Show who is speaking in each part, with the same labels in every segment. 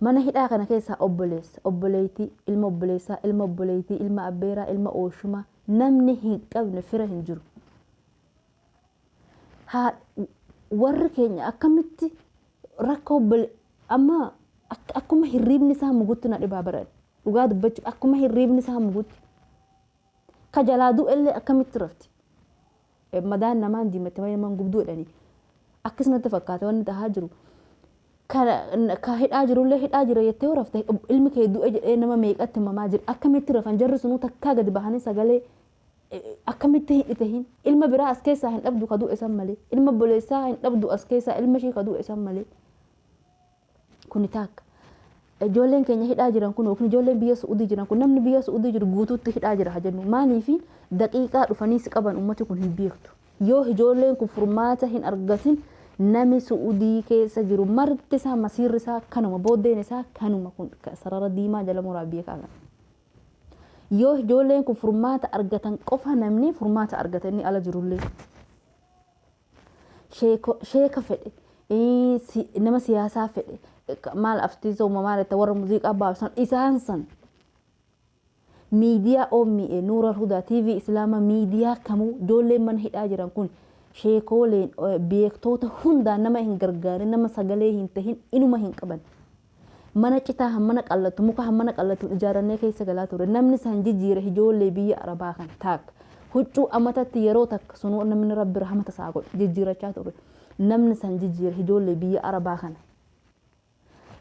Speaker 1: Mana hidhaa kana keessaa obboleessa, obboleettii, ilma obboleessaa, ilma obboleettii, ilma abbeeraa, ilma ooshumaa namni hin qabne fira hin jiru. Haa warri keenya akkamitti rakkoo obbole amma ak- akkuma hirriibni isaa mugutti na dhibaa baran dhugaa dubbachuuf akkuma hirriibni isaa mugutti ka jalaa du'ellee akkamitti rafti. Madaan namaa hin diimatte malee nama hin gubdu jedhani. Akkis natti fakkaate wanni tahaa jiru. Kana ka hidhaa jirullee hidhaa jira jettee yoo rafte ilmi kee du'e jedhee nama meeqatti himamaa jira. Akkamitti rafan jarri sunuu takkaa gadi bahanii sagalee akkamitti hin dhitahin. Ilma biraa as keessaa hin dhabdu ka du'e san malee. Ilma obboleessaa hin dhabdu as keessaa ilma ishii ka du'e san malee. Kuni taakka. Ijoolleen keenya hidhaa jiran kun yookiin ijoolleen biyya Su'udii jiran kun namni biyya Su'udii jiru guutuutti hidhaa jira haa jennu. Maaliifi daqiiqaa dhufanii si qaban ummati kun hin beektu. Yoo ijoolleen kun furmaata hin argatin nami Su'udii keessa jiru marti isaa masiirri isaa kanuma booddeen isaa kanuma kun sarara diimaa jala muraa beekaa kana. Yoo ijoolleen kun furmaata argatan qofa namni furmaata argata inni ala jirullee. Sheeko- sheeka fedhe ii, si- nama siyaasaa fedhe ka- maal aftiisa uumamaa irratti warra muuziqaa baabsan isaan san miidiyaa OMA Nuura Hudaa TV Islaama miidiyaa kamuu ijoolleen mana hidhaa jiran kun sheekooleen eh, beektoota hundaan nama hin gargaarin nama sagalee hin tahin inuma hin qaban. Mana citaa hammana qallatu, muka hammana qallatuun ijaarrannee keessa galaa turre. Namni san jijiire hijoollee biyya Arabaa kana. Taak. Huccuu amatatti yeroo takka, sunuu namni Rabbi rahmata isaa godhe, jijjiirachaa turre. Namni san jijiire hijoollee biyya Arabaa kana.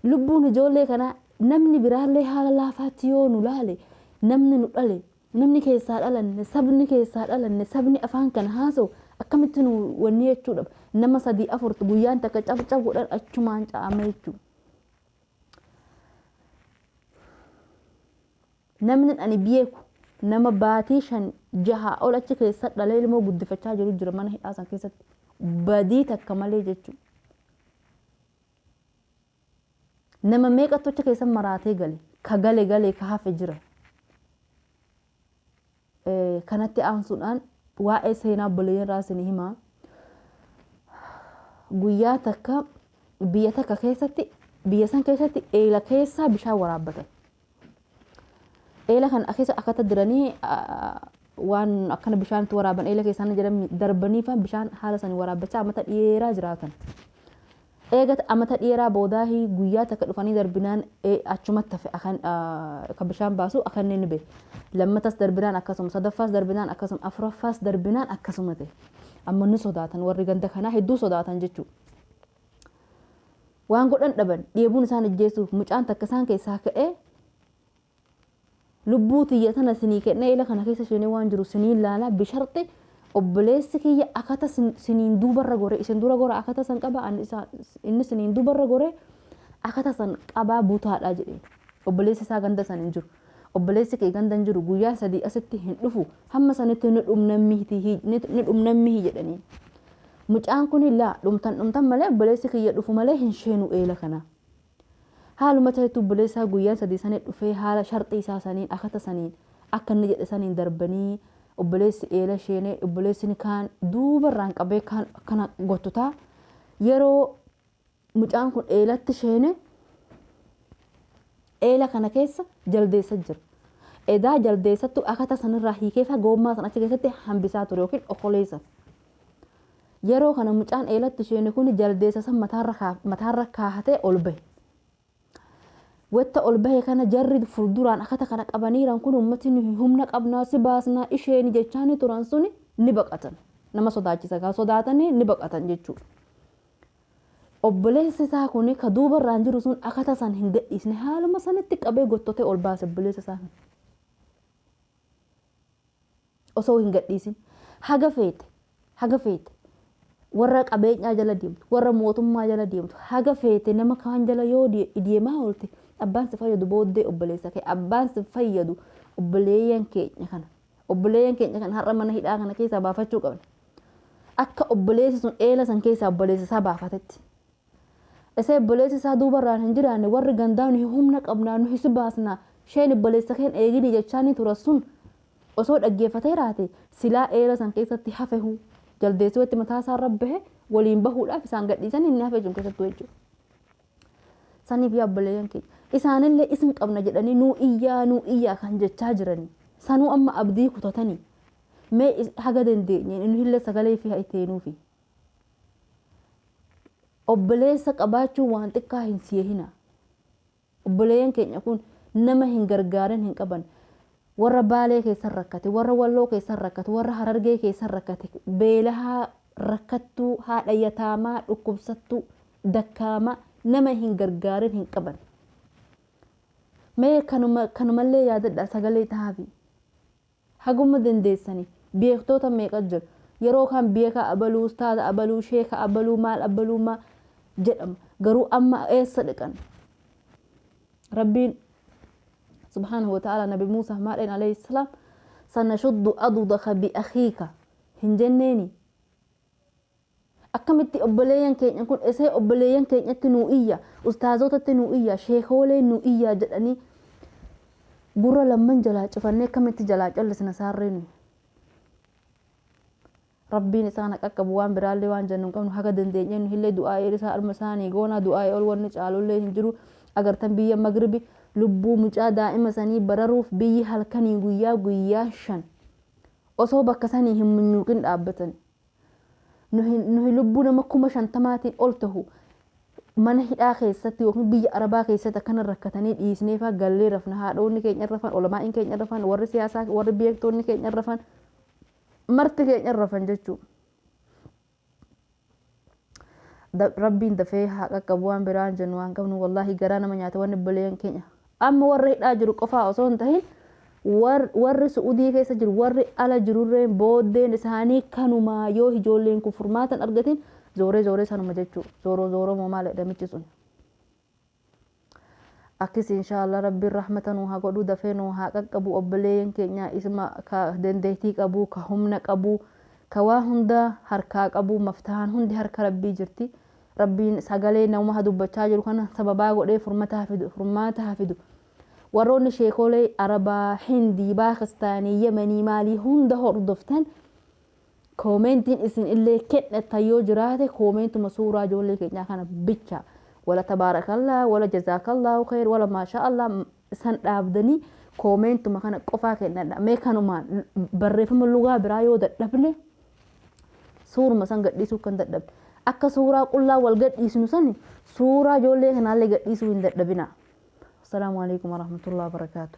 Speaker 1: Lubbuun hijoollee kanaa namni biraallee haala laafaatti yoo nu laale, namni nu dhale, Namni keessaa dhalanne, sabni keessaa dhalanne, sabni afaan kana haasawu akkamitti nu wanni jechuu dhaba. Nama sadii afurtu guyyaan takka caf caf godhan achumaan ca'ama jechuu. Namni ani beeku nama baatii shan jahaa ol achi keessa dhalee ilmoo guddifachaa jiru jira mana hidhaa san keessatti. Badii takka malee jechuu. Nama meeqa tocha keessan maraatee gale? Ka gale galee ka hafe jira. Kanatti aansuudhaan waa'ee seenaa obboleeyyan irraa isin hima. Guyyaa takka biyya takka keessatti biyya san keessatti eela keessaa bishaan waraabbatan. Eela kan keessa akkata diranii waan akkana bishaan itti waraaban eela keessaan jedhan darbanii faan bishaan haala sanii waraabbachaa amata dheeraa jiraatan. Eega amata dheeraa boodaa guyyaa takka dhufanii darbinaan achumatti hafe akka bishaan baasu akka inni ni bee. Lammatas darbinaan akkasuma sadaffaas darbinaan akkasuma afuraffaas darbinaan akkasuma ta'e. Amma ni sodaatan warri ganda kanaa hedduu sodaatan jechuudha. Waan godhan dhaban, dheebuun isaan ijjeessuuf mucaan takka isaan keessaa ka'ee lubbuu tiyya tana sinii kennee ila kana keessa seenee waan jiru siniin laala bisharxi obboleessi kiyya akata siniin duubarra gore isin dura gora akata san qaba inni siniin duubarra gore akata san qabaa butaadha jedheen obboleessi isaa ganda san hin jiru obboleessi kee gandan jiru guyyaa sadii asitti hin dhufu hamma sanitti ni dhumna miti hi- ni ni dhumna mihi jedhaniin mucaan kun laa dhumtan dhumtan malee obboleessi kiyya dhufu malee hin sheenu eela kana haaluma ta'etti obboleessaa guyyaa sadii sanii dhufee haala sharxii isaa saniin akata saniin akka inni jedhe saniin darbanii obboleessi eela sheenee obboleessini kaan duubarraan qabee kaan akkana gottutaa yeroo Mucaan kun eelatti sheene eela kana keessa jaldeessa jira. Edaa jaldeessattu akata sanirraa hiikeefa goommaa san achi keessatti hambisaa ture yookiin okolee san. Yeroo kana mucaan eelatti sheene kun jaldeessa san mataarra kaahatee ol bahe. Watta ol bahe kana jarri fulduraan akata kana qabaniiran kun ummati nuhi humna qabna si baasna isheeni jechaani turan suni ni baqatan. Nama sodaachisa gaa sodaatani ni baqatan jechuu. Obboleessi isaa kuni ka duuba irraan jiru sun akata san hin gadhiisne haaluma sanitti qabee gottote ol baase obboleessa isaa kana. osoo hin gadhiisin haga feete haga feete warra qabeenyaa jala deemtu warra mootummaa jala deemtu haga feete nama kaan jala yoo deemaa oolte abbaan si fayyadu booddee obboleessa kee abbaan si fayyadu obboleeyyan keenya kana obboleeyyan keenya kana har'a mana hidhaa kana keessaa baafachuu qabna akka obboleessi sun eela san keessaa obboleessa isaa baafatetti Isa ibboleessi isaa duubarraan hin jiraanne warri gandaa nuhi humna qabnaa nuhi si baasna sheen ibboleessa keen eegini jechaani turan sun osoo dhaggeeffateeraate silaa eera san keessatti hafehu jaldeessi watti mataa isaa irra bahe waliin bahuudhaaf isaan gadhiisani inni hafe sun keessattuu jechuudha. Saniif yaa obboleeyyan keenya isaanillee isin qabna jedhanii nuu iyyaa nuu iyyaa kan jechaa jirani sanuu amma abdii kutatani mee haga dandeenyeen nuhillee sagalee fi haa itti heenuufi. Obboleessa qabaachuun waan xiqqaa hin si'ehinaa. Obboleeyyan keenya kun nama hin gargaarin hin qaban. Warra Baalee keessan rakkate, warra Walloo keessan rakkate, warra Harargee keessan rakkate, beelahaa, rakkattuu, haadha yataamaa, dhukkubsattuu, dakkaamaa nama hin gargaarin hin qaban. Mee kanuma kanumallee yaadadhaa sagalee tahaafi. Haguma dandeessani beektoota meeqa jira yeroo kaan beekaa abaluu ustaaza abaluu sheeka abaluu maal abaluu maa jedhama garuu amma eessa dhaqan rabbiin subhaanahu wa ta'aalaa nabi muusaaf maal jedheen alayhi salaam sanashuddu adudaka bi akhiika hin jenneeni Akkamitti obboleeyyan keenya kun esee obboleeyyan keenyatti nuu iyya, ustaazootatti nuu iyya, sheekoolee nuu iyyaa jedhanii gurra lamman jalaa cufannee akkamitti jalaa callisna saarree nuyi. Rabbiin isaan ha qaqqabu waan biraallee waan jennu hin qabnu haga dandeenyeen nuhillee du'aa'ii isaa arma isaanii goona du'aa'ii ol wanni caalullee hin jiru agartan biyya magribi lubbuu mucaa daa'ima sanii bararuuf biyyi halkanii guyyaa guyyaa shan osoo bakka sanii hin munyuuqin dhaabbatani Nuhi, nuhi lubbuu nama kuma shantamaatiin ol tahu mana hidhaa keessatti yookiin biyya Arabaa keessatti akkana rakkatanii dhiisneefaa gallee rafna. Haadhoonni keenya hin rafan, ulamaa'iin keenya hin rafan, warri siyaasaa, warri beektoonni keenya hin rafan, marti keenya hin rafan jechuudha. Rabbiin dafee haa qaqqabu waan biraa hin jennu waan qabnu wallaahi garaa nama nyaata wanni obboleeyyan keenya amma warra hidhaa jiru qofaa osoo hin tahin warri su'udii keessa jiru warri ala jirurreen booddeen isaanii kanumaa yoo ijoolleen kun furmaatan argatin zooree zooree sanuma jechuu zooroo zooroo moo maal jedhamichi sun Akkisi inshallah rabbiin rahmata nuu haa godhuu dafee nuu haa qaqqabu obboleeyyan keenyaa isma ka dandeeytii qabuu ka humna qabuu ka waa hundaa harkaa qabuu maftahaan hundi harka rabbii jirti rabbiin sagalee namuma ha dubbachaa jiru kana sababaa godhee furmata hafidu furmaata hafidu warroonni sheekoolee arabaa hindii baakistaanii yemanii maalii hunda hordoftan Koomentiin isin illee kennattan yoo jiraate koomentuma suuraa ijoollee keenyaa kana bicha wala tabaarakallah wala jazaakallahu kheer wala maashaa allah san dhaabdanii koomentuma kana qofaa kennadha mee kanumaan barreeffama lugaa biraa yoo dadhabne suuruma san gadhiisuu kan dadhabne akka suuraa qullaa wal gadhiisnu sani suuraa ijoollee kanaallee gadhiisuu hin dadhabina. Assalaamu alaikum warahmatullahi wabarakatuh.